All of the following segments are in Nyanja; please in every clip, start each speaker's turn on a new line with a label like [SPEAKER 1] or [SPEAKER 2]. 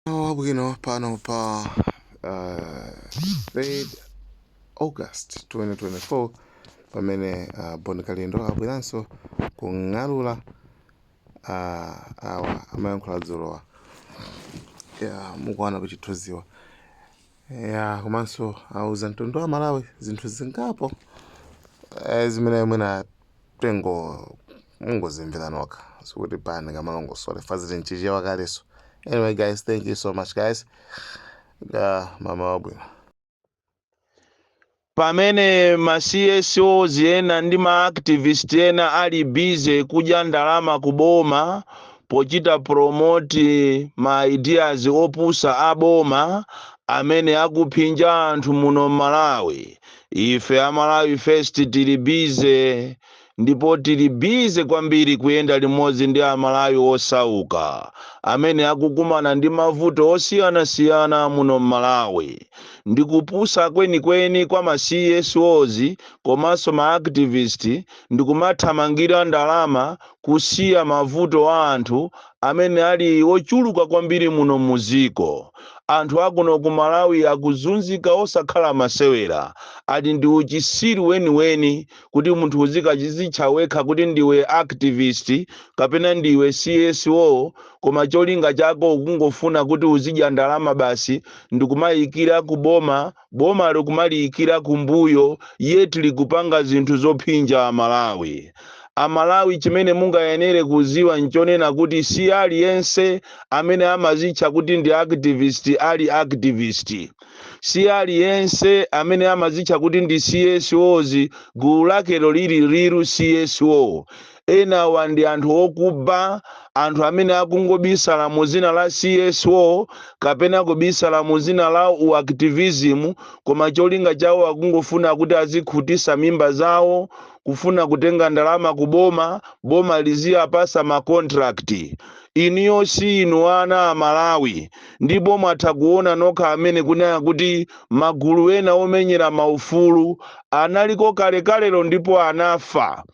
[SPEAKER 1] Mmawa wabwino pano pa uh, 3 August 2024 pamene uh, Bon Kalindo abweranso kung'alula uh, awa amayankhula dzulowa yeah, mukuona pachithunziwa ya komanso auza mtundu wa Malawi zinthu zingapo eh, zimene mwina tengo mungozimvera nokha sikuti paja ndingamalongosole chifukwa zili mchichewa kaleso anyway guys thank you so much guys uh, mmawa wabwino
[SPEAKER 2] Pamene ma CSOs ena ndi ma activist ena ali busy kudya ndalama ku boma pochita promote ma ideas opusa a boma amene akuphinja anthu muno m'Malawi, ife a Malawi First tili busy ndipo tili busy kwambiri kuyenda limodzi ndi a Malawi osauka amene akukumana ndi mavuto osiyanasiyana muno m'Malawi. Ndi kupusa kwenikweni kwa ma CSOs komanso ma activist ndikumathamangira ndalama kusiya mavuto a anthu amene ali ochuluka kwambiri muno mu dziko. Anthu akuno ku Malawi akuzunzika osakhala masewera, ati ndi uchisiru weniweni. kuti munthu uzikachizitcha wekha kuti ndiwe activist kapena ndiwe CSO koma cholinga chako ukungofuna kuti uzidya ndalama basi ndikumayikira ku boma boma likumaliyikira kumbuyo yet likupanga zinthu zophinja amalawi amalawi chimene mungayenere kuziwa nchonena kuti si aliyense amene amazitcha kuti ndi activist ali activist Si aliyense amene amazitcha kuti ndi CSOs, gulu lakelo liri real CSO. Enawa ndi anthu okuba, anthu amene akungobisala mu zina la CSO kapena kubisala mu zina la u activism koma cholinga chawo akungofuna kuti azikhutisa mimba zawo, kufuna kutenga ndalama ku boma, boma liziapasa ma contract. Inuyo si inu ana a Malawi. ndipo mwatha kuona nokha amene kunena kuti magulu ena omenyera maufulu analiko kalekalelo ndipo anafa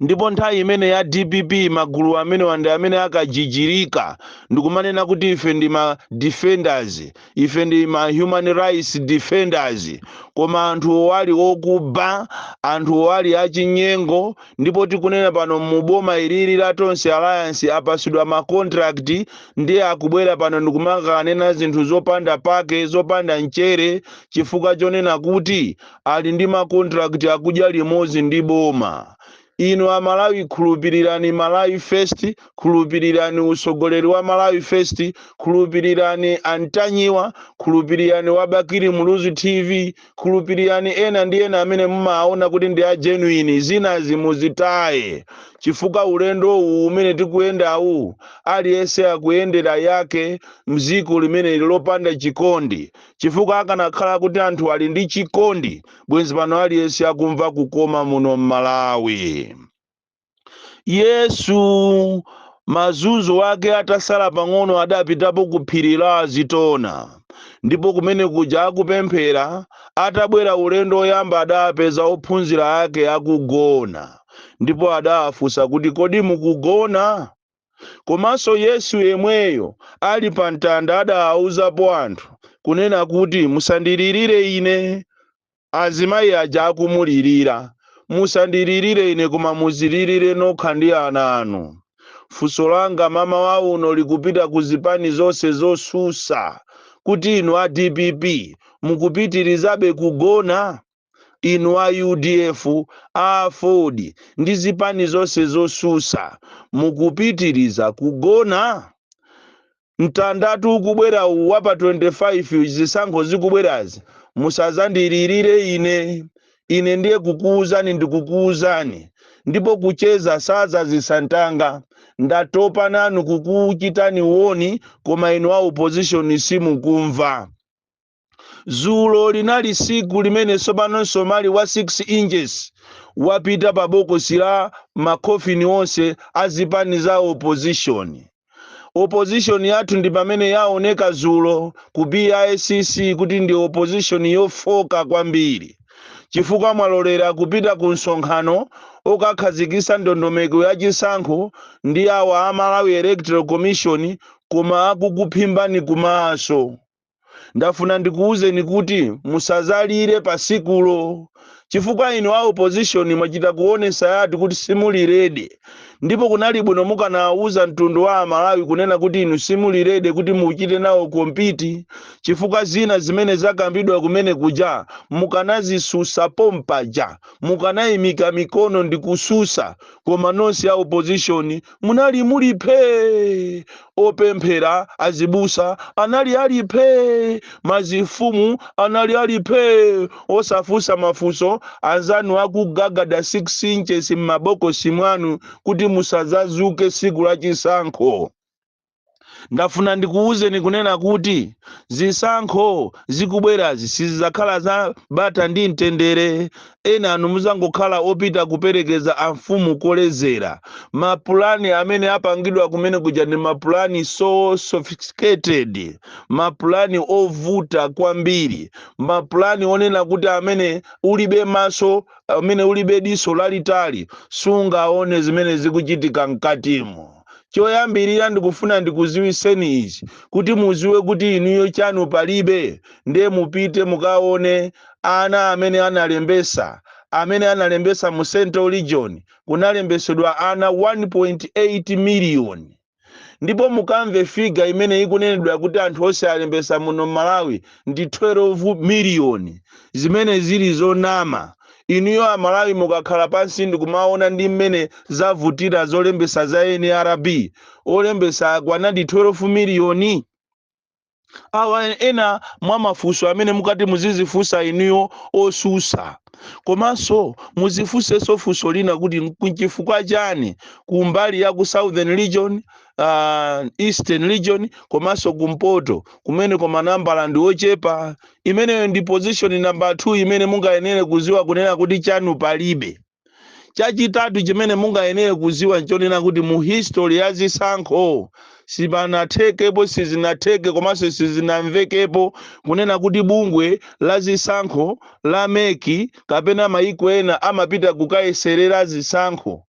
[SPEAKER 2] ndipo nthawi imene ija ya dpp magulu amenewa ndi amene akajijirika ndikumanena kuti ife ndi ma defenders ife ndi ma human rights defenders koma anthuwo ali okuba anthuwo ali achinyengo ndipo tikunena pano mu boma ilili la tonse alliance apasidwa ma contract ndiye akubwera pano ndikumakanena zinthu zopanda pake zopanda mchere chifukwa chonena kuti ali ndi makontrakiti akudya limodzi ndi boma inu amalawi khulupirirani malawi first khulupirirani utsogoleri wa malawi first khulupirirani antanyiwa khulupirirani wa bakili muluzi tv khulupirirani ena ndi ena amene mumaona kuti ndi a genuine zinazi muzitaye chifukwa ulendo uwu umene tikuyendawu aliyense akuyendera yake mziko limeneli lopanda chikondi chifukwa akanakhala kuti anthu ali ndi chikondi bwenzi pano aliyense akumva kukoma muno m'malawi yesu mazunzo ake atasala pang'ono adapitapo ku phiri la azitona ndipo kumene kuja akupemphera atabwera ulendo woyamba adapeza ophunzira ake akugona ndipo adawafunsa kuti kodi mukugona komanso yesu yemweyo ali pa mtanda adawauzapo anthu kunena kuti musandilirire ine Azimayi aja akumulirira. Musandilirire ine koma muzilirire nokha ndi ana anu. Funso langa mamawa uno likupita ku zipani zonse zosusa kuti inu a dpp mukupitirizabe kugona? Inu a udf, a aford ndi zipani zonse zosusa mukupitiriza kugona? Mtandatu ukubwera uwu wa pa 25, zisankho zikubwerazi, musadzandilirire ine. Ine ndiye kukuuzani ndikukuuzani, ndipo kucheza sadzazitsa ntanga. Ndatopa nanu kukuchitani warn, koma inu a opposition simukumva. zulo linali siku limene tsopano msomali wa 6 inches wapita pa bokosi la makhofini onse a zipani za opposition opposition yathu ndi pamene yaoneka zulo ku bicc kuti ndi opposition yofoka kwambiri chifukwa mwalolera kupita ku msonkhano okakhazikisa ndondomeko ya chisankho ndi awa a malawi electoral commission koma akukuphimbani kumaso ndafuna ndikuwuzeni kuti musazalire pa sikulo chifukwa inu a opposition mwachita kuonesa yati kuti simuli ready ndipo kunali bwino mukanawuza mtundu wa amalawi kunena kuti inu simuli ready kuti muchite nawo compete chifukwa zina zimene zakambidwa kumene kuja mukanazisusa pompaja mukanayimika mikono ndikususa koma nonse a opposition munali muli phee opemphera azibusa anali ali phee mazifumu anali ali phee osafunsa mafunso anzanu akugagada 6 inches m'mabokosi mwanu kuti musazazuke siku la chisankho ndafuna ndikuwuzeni kunena kuti zisankho zikubwerazi sizizakhala za bata ndi mtendere Ena anu muzangokhala opita kuperekeza a mfumu kolezera. Ma plan amene apangidwa kumene kuja ndi ma plan so sophisticated, ma plan ovuta kwambiri, ma plan onena kuti amene ulibe maso, amene ulibe diso lalitali sungaone zimene zikuchitika mkatimo. Choyambirira ndikufuna ndikuziwiseni ichi kuti muziwe kuti inuyo chanu palibe nde mupite mukaone ana amene analembesa amene analembesa mu central region kunalembesedwa ana 1.8 million ndipo mukamve figa imene ikunenedwa kuti anthu onse alembesa muno mmalawi ndi 12 million zimene zili zonama inuyo amalawi mukakhala pansi ndikumaona ndi mmene zavutira zolembesa za nrb olembesa akwanadi 12 miliyoni awa ena mwa mafunso amene mumati muzizifunsa inuyo osusa komanso muzifunsenso funso lina kuti nchifukwa chani kumbali ya ku southern region uh, eastern region komanso kumpoto kumeneko manambala ndi ochepa imeneyo ndi position number 2 imene mungayenere kuziwa kunena kuti chanu palibe chachitatu chimene mungayenere kuziwa nchonena kuti mu history ya zisankho sipanathekepo sizinatheke komanso sizinamvekepo kunena kuti bungwe la zisankho la meki kapena mayiko ena amapita kukayeserera zisankho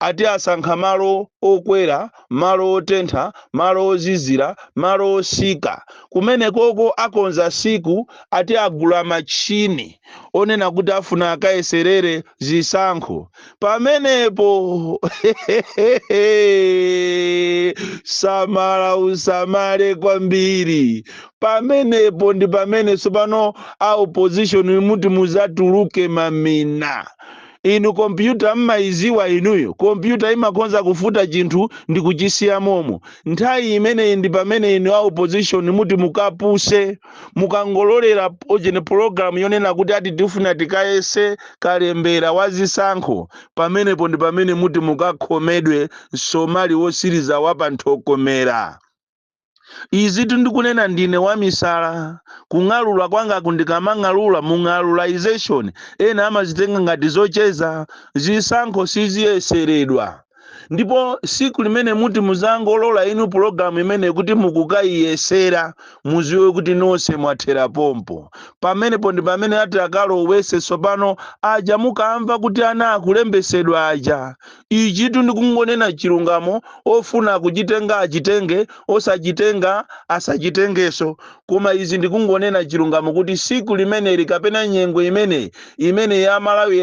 [SPEAKER 2] ati asankha malo okwera malo otentha malo ozizira malo osika kumenekoko akonza siku ati agula machini onena kuti afuna akayeserere zisankho pamenepo samala usamale kwambiri pamenepo ndi pamene tsopano a opposition muti muzatuluke mamina inu kompyuta mmayiziwa inuyo kompyuta imakhonza kufuta chinthu ndi kuchisiya momo nthawi imeneyi ndi pamene inu a opposition muti mukapuse mukangololera ujeni pologalamu yonena kuti ati tifuna tikayese kalembera wa zisankho pamenepo ndi pamene muti mukakhomedwe msomali wosiriza wa panthokomera izitu ndikunena ndine wamisala kung'alula kwangaku ndikamang'alula mung'alulization ena amazitenga ngati zocheza zisankho siziyeseredwa ndipo siku limene muti muzangolola inu pulogalamu imene kuti mukukayiyesera muziwe kuti nonse mwathera pompo pamenepo ndi pamene ati akalowese tsopano aja mukamva kuti ana akulembesedwa aja ichitu ndikungonena chilungamo ofuna kuchitenga achitenge osachitenga asachitengeso Koma izi ndikungonena chilungamo kuti siku limeneli kapena nyengo imeneyi imene ya Malawi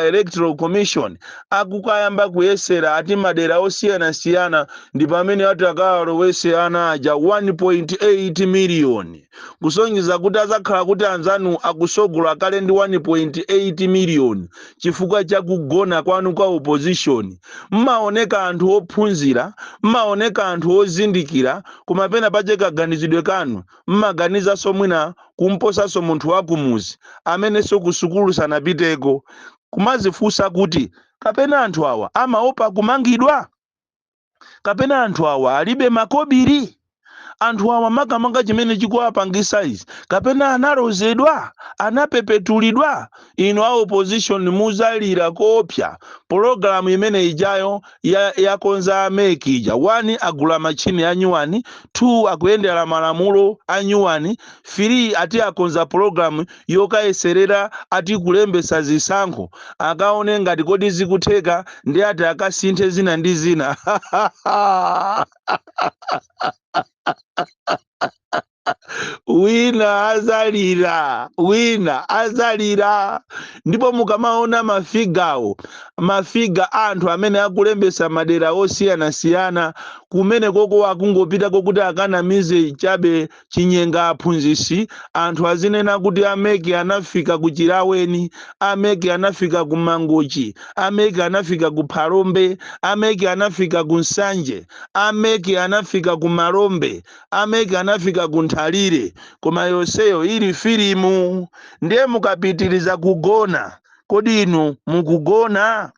[SPEAKER 2] Electoral Commission akukayamba kuyesera ati madera osiyanasiyana ndi pamene ati akawalowese ana aja 1.8 million kusonyeza kuti azakhala kuti anzanu akusogola kale ndi 1.8 million chifukwa cha kugona kwanu kwa opposition mmaoneka anthu ophunzira mmaoneka anthu ozindikira koma pena pache kaganizidwe kanu mmaganizanso mwina kumposanso munthu wakumuzi amenenso kusukulu sanapiteko kumazifunsa kuti kapena anthu awa amaopa kumangidwa kapena anthu awa alibe makobiri anthu awa makamaka chimene chikuwapangisa izi kapena analozedwa anapepetulidwa inu a opposition muzalira koopsa pologalamu imene ijayo yakonza a mec ija 1 agula machine a nyuwani 2 akuyendera malamulo a nyuwani 3 ati akonza program yokayeserera ati kulembesa zisankho akaone ngati kodi zikutheka ndi ati akasinthe zina ndi zina wina azalira wina azalira ndipo mukamaona mafigawo mafiga a anthu amene akulembesa madera osiyanasiyana kumene koko akungopita kokuti akanamize chabe chinyenga aphunzisi anthu azinena kuti ameki anafika ku chilaweni ameki anafika ku mangochi ameki anafika ku phalombe ameki anafika ku nsanje ameki anafika ku malombe a mec anafika ku nthalire koma yonseyo ili filimu ndiye mukapitiriza kugona kodi inu mukugona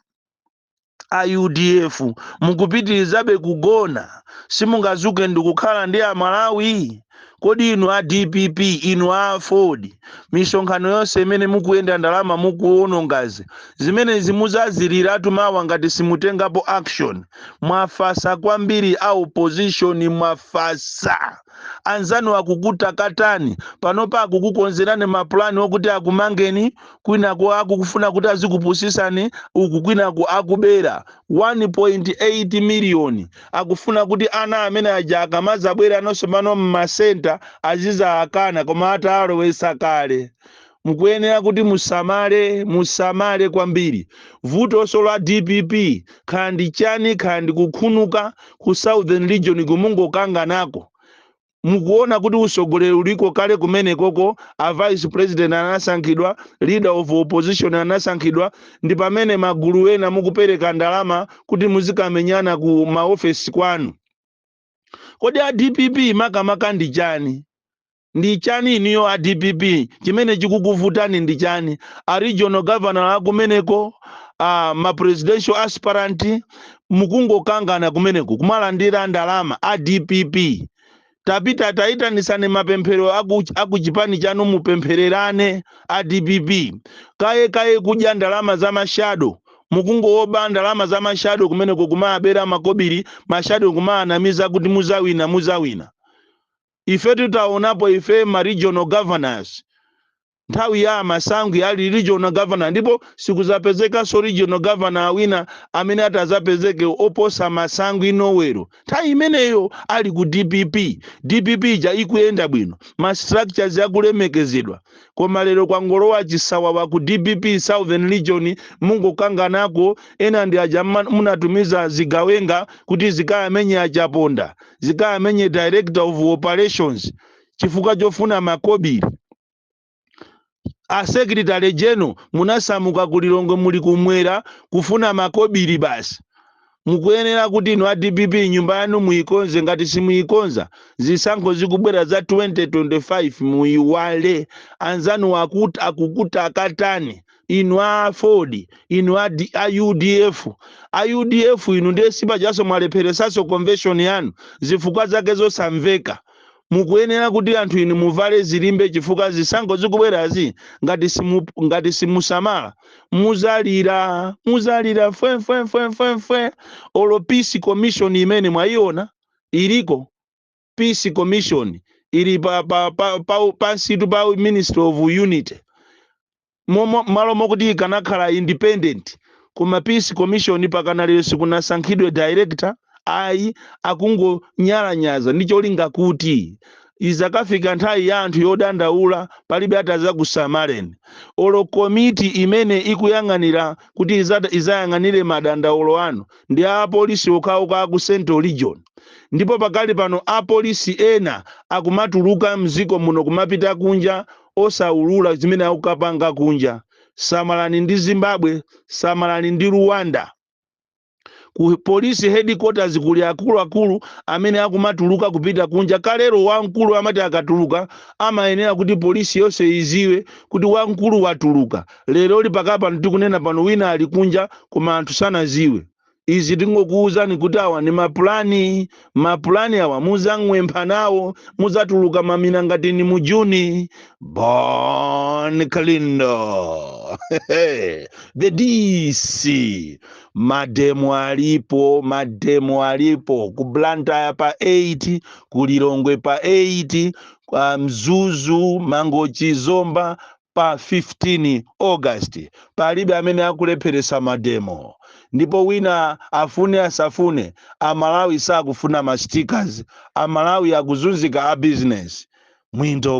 [SPEAKER 2] a udf mukupitirizabe kugona simungazuke ndikukhala ndi amalawi kodi inu a dpp inu a aford misonkhano yonse imene mukuyenda ndalama mukuwonongazi zimenezi muzaziliratu mawa ngati simutengapo action mwafasa kwambiri a opposition mwafasa anzanu akukutakatani panopa akukukonzerani mapulani okuti akumangeni kwinaku akukufuna kuti azikupusisani uku kwinaku akubera 1.8 miliyoni akufuna kuti ana amene aja akamazabwera ana sopano mmasenta azizaakana koma atalowesa kale Mukuyenera kuti musamale, musamale kwambiri. Vutoso la dpp kaya ndi chani kaya ndi kukhunuka ku southern region kumangokanganako. Mukuona kuti usogoleri uliko kale kumenekoko a vice president anasankhidwa, leader of opposition anasankhidwa ndi pamene magulu ena mukupereka ndalama kuti muzikamenyana ku ma office kwanu. Kodi a dpp makamaka ndi chani? Ndi chani inuyo a dpp chimene chikukuvutani ndi chani? A regional governor akumeneko, ma presidential aspirant mukungokangana kumeneko kumalandira ndalama a dpp. Tapita tayitanitsane mapemphero aku aku chipani chanu mupemphererane a dpp. Kaye kaye kudya ndalama za ma shadow. Mukungowoba ndalama za ma shadow kumeneko kumawabera makobiri ma shadow kumawanamiza kuti muzawina muzawina. Ifetu taonapo ife ma regional governors nthawi ya a Masangwi ali regional governor ndipo sikuzapezekanso regional governor wina amene atazapezeke oposa Masangwi Nowelo nthawi imeneyo ali ku dpp. Dpp ija ikuyenda bwino, ma structures akulemekezedwa koma lero kwangolowa chisawawa ku dpp southern region mungokanganako ena ndi aja munatumiza zigawenga kuti zikayamenye a Chaponda. zikayamenye director of operations chifukwa chofuna makobiri a secretary general munasamuka ku lilongwe muli kumwera kufuna makobiri basi mukuyenera kuti inu a dpp nyumba yanu muyikonze ngati simuyikonza zisankho zikubwera za 2025 muyiwale anzanu akuti akukutakatani inu a aford inu a, D, a udf a udf inu ndiye sipachaso mwalepheresaso convention yanu zifukwa zake zosamveka mukuyenera kuti anthu inu muvale zilimbe chifukwa zisankho zikubwerazi ngati simu, ngati simusamala muzala muzalira fwe fwe fwe fwe fwe olo peace commission imene mwayiona iliko Peace Commission ili pa, pa, pa, pa, pansitu pa Ministry of Unity Momo- malo mokuti ikanakhala independent koma Peace Commission pakana lero sikunasankhidwe director ayi akungonyalanyaza ndi cholinga kuti izakafika nthawi ya anthu yodandaula palibe atazakusamaleni olo komiti imene ikuyang'anira kuti izata- izayang'anire madandaulo anu Ndi a apolisi okhaokha aku central region ndipo pakali pano a police ena akumatuluka mziko muno kumapita kunja osaulula zimene akukapanga kunja samalani ndi zimbabwe samalani ndi ruwanda ku police headquarters kuli akuluakulu amene akumatuluka kupita kunja kalero wamkulu amati akatuluka amayenera kuti police yonse iziwe kuti wamkulu watuluka Lero li pakali pano tikunena pano wina ali kunja koma anthu sanaziwe izi tingokuuzani kuti awa ni mapulani mapulani awa muzang'wempha nawo muzatuluka mamina ngati ni mu juni bon kalindo the dc mademo alipo mademo alipo ku blantyre pa 8 ku lilongwe pa 8 kwa mzuzu mangochi zomba pa 15 August palibe amene akulepheretsa mademo ndipo wina afune asafune amalawi sakufuna ma stickers amalawi akuzunzika a business mwinto